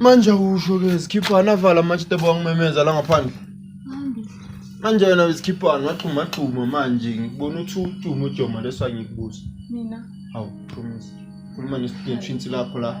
manje awusho ke zikhiphana avala manje tebo wangimemeza la ngaphandle manje wena wezikhiphana waxhuma xhuma manje ngikubona uthi udumo ujoma leso angikubuza mina hawu promise khuluma nesitudent shintsi lakho la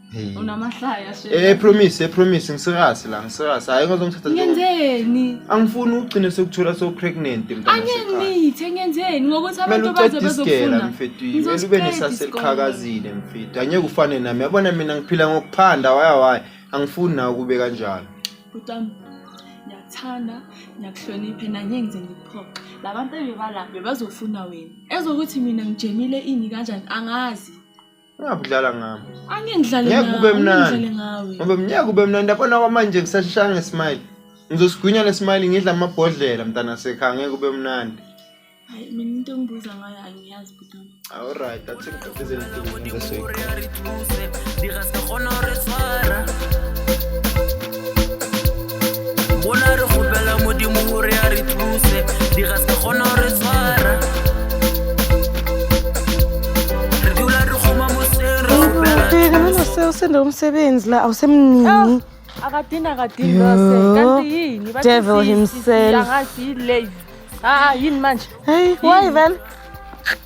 Hey. unamahlaya shame. Eh promise, eh promise ngiserasi la, ngiserasi. Hayi ngizomthatha nje. ngenzeni Angifuni ugcine sekuthola so pregnant mntana. angeke sekhaya. ngithe ngenzeni ngokuthi Kumele abantu baze uqede isigela bazofuna mfethu. Kumele ube Ngizosiqeda nesase isikole. eliqhakazile mfethu. Angeke ufane nami. Yabona mina ngiphila ngokuphanda waya waya. Angifuni nawe kube kanjalo. butami ngiyakuthanda ngiyakuhloniphe nanye ngize ngikuphoxe labantu ebebala bebazofuna wena ezokuthi mina ngijemile ini kanjani angazi ungabe udlala ngami angeke ngidlale ngeke kube mnandi ngoba ngeke kube mnandi yabona kwamanje ngisashishanga ngesmile ngizosigwinya lesmile ngidla amabhodlela mntana sekhaya ngeke kube mnandi hayi mina into engibuza ngayo angiyazi butwana alright that's it qhubezeni into usende umsebenzi la awusemningi ah, akadini akadini lose kanti yini devil himself angazi yini late ah yini manje hey why vele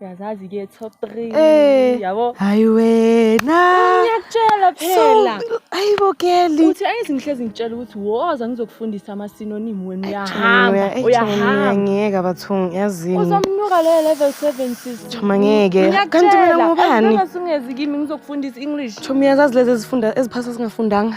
uyazazi ke top 3 Eh. yabo hayi wena ngiyakutshela phela So, hayi bo girl uthi ayizi ngihlezi ngitshela ukuthi woza ngizokufundisa amasinonimu wenu uyahamba uyahamba ngeke abathungi yazini uzomnyuka leyo level 7 sis Choma ngeke. Kanti mina ngubani? ngingazungezi kimi ngizokufundisa english Choma uyazazi lezi ezifunda eziphasa singafundanga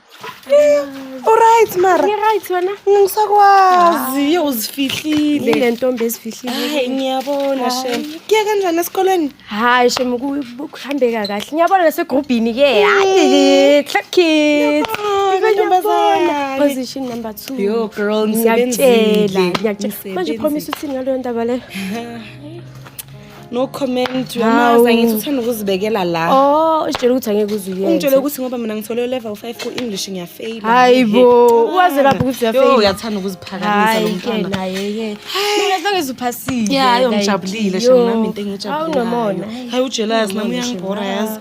Uright mara. Ngiright wena. Ngisakwazi ah. uzifihlile. Ile ntombi ezifihlile. Hayi ngiyabona shem. Kuya kanjani esikoleni? Hayi shem kuhambeka kahle. Ngiyabona nasegroupini ke. Mm. Hayi clap kids. Ngiyabona. Position number 2. Yo girl ngisebenzile. Ngiyakutshela. Manje promise uthini ngalo ndaba le? no comment uyamazi angithi uthanda ukuzibekela la oh usitshela ukuthi angeke uzuyeke ungitshele ukuthi ngoba mina ngithole level 5 ku English ngiyafeyila hayibo uwaze lapho ukuthi uyafeyila uyathanda ukuziphakamisa lo mntwana naye ke mina sangeze uphasile yeah ayo ngijabulile shem nami into engijabulile awunomona hayi ujealous nami uyangibhora yazi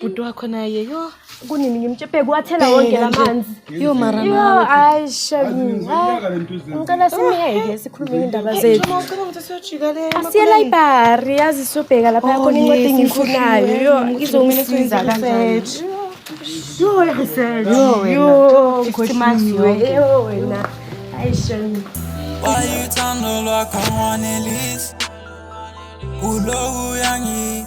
bhuti wakho naye yo kunini ngimtshepeke wathela wonke la manzi yo mara yo hayi shami ngicela simyeke sikhulume indaba zethu asiye library yazi sobheka lapha oh, yakhona incwadi engiyifunayo yo izongisiza kanjani yo research yo ngikhohliwe yo wena hayi shami Why you turn the lock on one at least? Ulo uyangi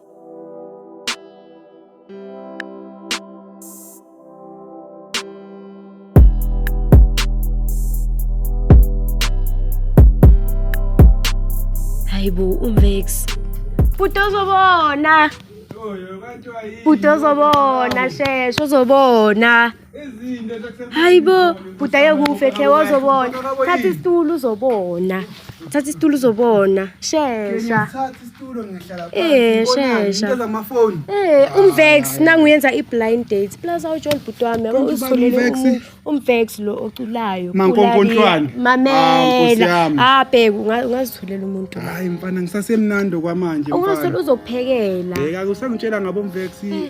hayibo umvex bhuti ozobona bhuti ozobona sheshe ozobona hayi bo budaye kufe khe wozobona thatha isitulo uzobona thatha isitulo uzobona shesha eh shesha eh umvex nanguyenza iblind date plus awujol bhuti wami yabo uzitholele umvex lo oculayo mankonkontlwane mamela ah bheku ungazitholela umuntu hayi mfana ngisasemnandi kwamanje mfana ungazithola uzokuphekela bheka kusangitshela ngabo mvex eh.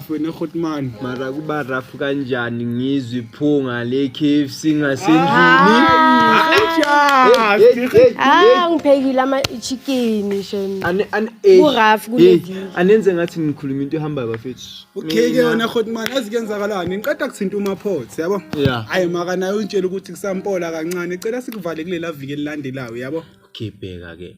wena Khotman mara kuba rough kanjani ngizwe iphunga le KFC ngasendlini ah ngiphekile ama chicken shem ku rough kulezi anenze ngathi ngikhuluma into ehamba bafethu okay ke wena Khotman azikwenzakalani ngiqeda kuthinta uma pot yabo hayi maka nayo untshela ukuthi kusampola kancane cela sikuvalekile la viki elilandelayo yabo okay bheka ke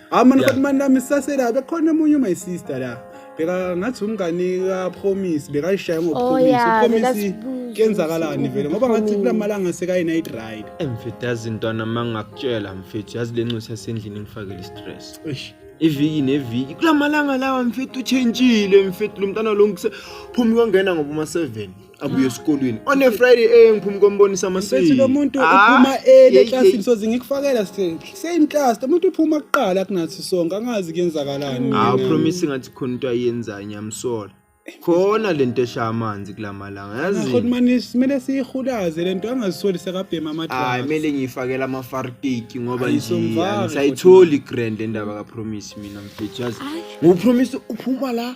hayi mani kodwa mani lami sisasela bekhona omunye my sister la beka ngathi umngani kapromise bekayishaye oh, ngopromise upromise kuyenzakalani vele ngoba ngathi kula malanga sekayi-night ride mfethu yazi ntwana ma ngingakutshela mfethu yazi le nxusa sendlini ngifakele i-stress iviki neviki kula malanga lawa mfethu utshentshile mfethu lo mntana lo phume kwangena ngoba uma-seven abuye esikolweni on a friday eh ngiphuma kombonisa amasiko bethi lo muntu uphuma early eclassini soze ngikufakela same class lo muntu uphuma kuqala kunathi sonke angazi kuyenzakalani ah promise ngathi khona into ayenzayo ngiyamsola khona lento esha amanzi kulamalanga yazi khona manje simele siyihulaze lento angazisoli sekabhema amadala hayi mele ngiyifakela ama fartiki ngoba nje ngisayitholi grand endaba ka promise mina mfethu yazi ngu promise uphuma la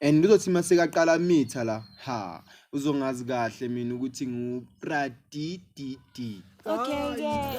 and kuzothi uma sekaqala mitha la ha uzongazi kahle mina ukuthi ngupradididi okay yeah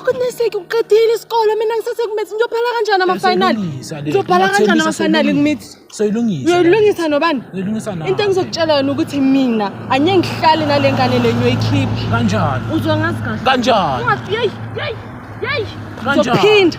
Uqiniseke uqedile isikole mina ngisase kumithi ngiyophela kanjani ama-final? Siyilungisa le. Ngiyophela kanjani Ngiyathembisa, ama-final siyilungisa. kumithi? Soyilungisa. Uyoyilungisa nobani? Uyilungisa nawe. Into engizokutshela yona ukuthi mina anye ngihlale nale ngane le ngiyoyikhipha. Kanjani? Uzwa ngazi kahle. Kanjani? Ungathi yeyi yeyi yeyi. Kanjani? Uzophinda.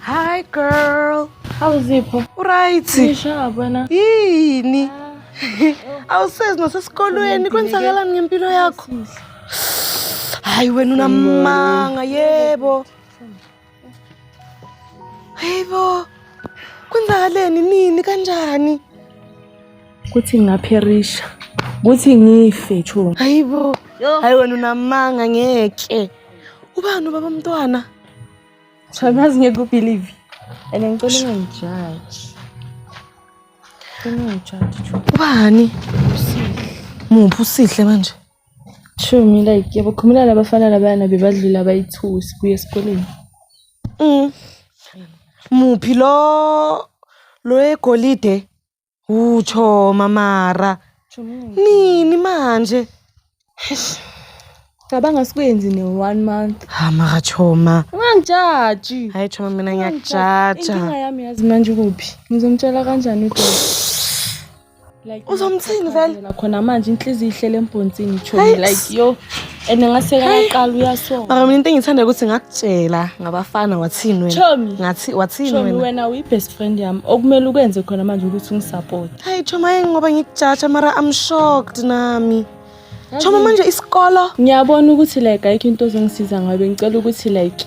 Hi girl. Awuzipho? Uright. Ngisha bana. Yini? Ah. Awusezi nosesikolweni kwenzakalani ngempilo yakho? Hayi wena unamanga yebo. Hayibo. Kwenzakaleni nini kanjani? Kuthi ngapherisha. Kuthi ngife chunga. Hayibo. Hayi wena unamanga ngeke. Ubani ubaba mntwana? Cha ngazi ngeke ubelieve. And ngicela ungangijaji. Ungangijaji Chu. Ubani? Muphi usihle manje? Chu mina like yabo khumula labafana labayana bebadlula bayithusi kuye esikoleni. Mm. Muphi lo lo egolide? Uthoma mara. Nini manje? Eish. Cabanga sikwenzi ne one month. Ha mara Choma. Ungangijaji. Hayi Choma mina ngiyakujaja. Inkinga yami yazi manje kuphi? Ngizomtshela kanjani uDodo? Like uzomthini vele? Khona manje inhliziyo ihlele embhonsini Choma like yo. and ngasekaqala uyasonga mara mina into engithanda ukuthi ngakutshela ngabafana wathini wena ngathi wathini wena wena uyi-best friend yami okumele ukwenze khona manje ukuthi ungisupport hayi choma yini ngoba ngikujatsha mara i'm shocked nami choma manje isikolo ngiyabona ukuthi like ayikho into ozongisiza ngayo bengicela ukuthi like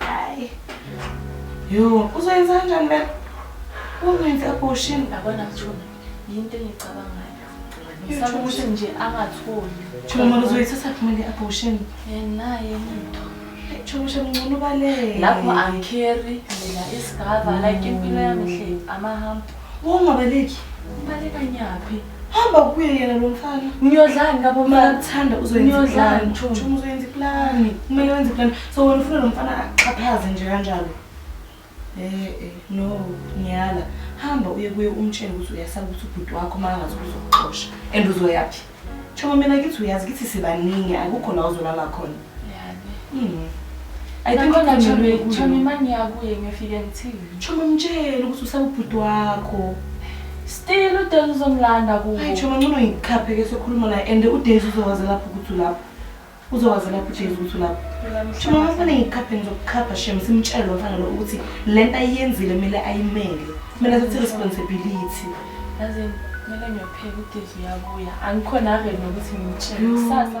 Hayi. Yo, uzoyenza kanjani le? Ungenze abortion labona kuthona. Yinto engicabangayo. Ngisaba ukuthi nje angatholi. Chuma manje uzoyithatha kumele abortion. Yena yena into. Chuma manje mncunu baleke. Lapho angikeri mina isigava like impilo yami hle amahamba. Ungabaleki. Ubaleka nyaphi? Hamba kuye yena lo mfana. Ngiyodlani ngabo uma ukuthanda uzoyenza plan. Chuma uzoyenza plan. Kumele wenze plan. So wena ufuna lo mfana axhaphaze nje kanjalo. Eh eh no ngiyala. Hamba uye kuye umtshele ukuthi uyasaba ukuthi ubhuti wakho mangazi uzokuxosha and uzoyaphi. Chuma mina kithi uyazi kithi sibaningi akukho la uzolala khona. Chomi mtshele ukuthi usawubhuti wakho still udays uzomlanda kuwo hayi chomi ncono ngikhaphe ke sokhuluma naye and udays uzowazi lapho ukuthi ulapho uzowazi lapho udays ukuthi ulapho chomi ngifune ngikhaphe ngizokukhapha shem simtshele lo mfana lo ukuthi le nto ayiyenzile kumele ayimele kumele athathe responsibility yazi kumele ngiyopheka udays uyabuya angikhona ave nokuthi ngimtshele kusasa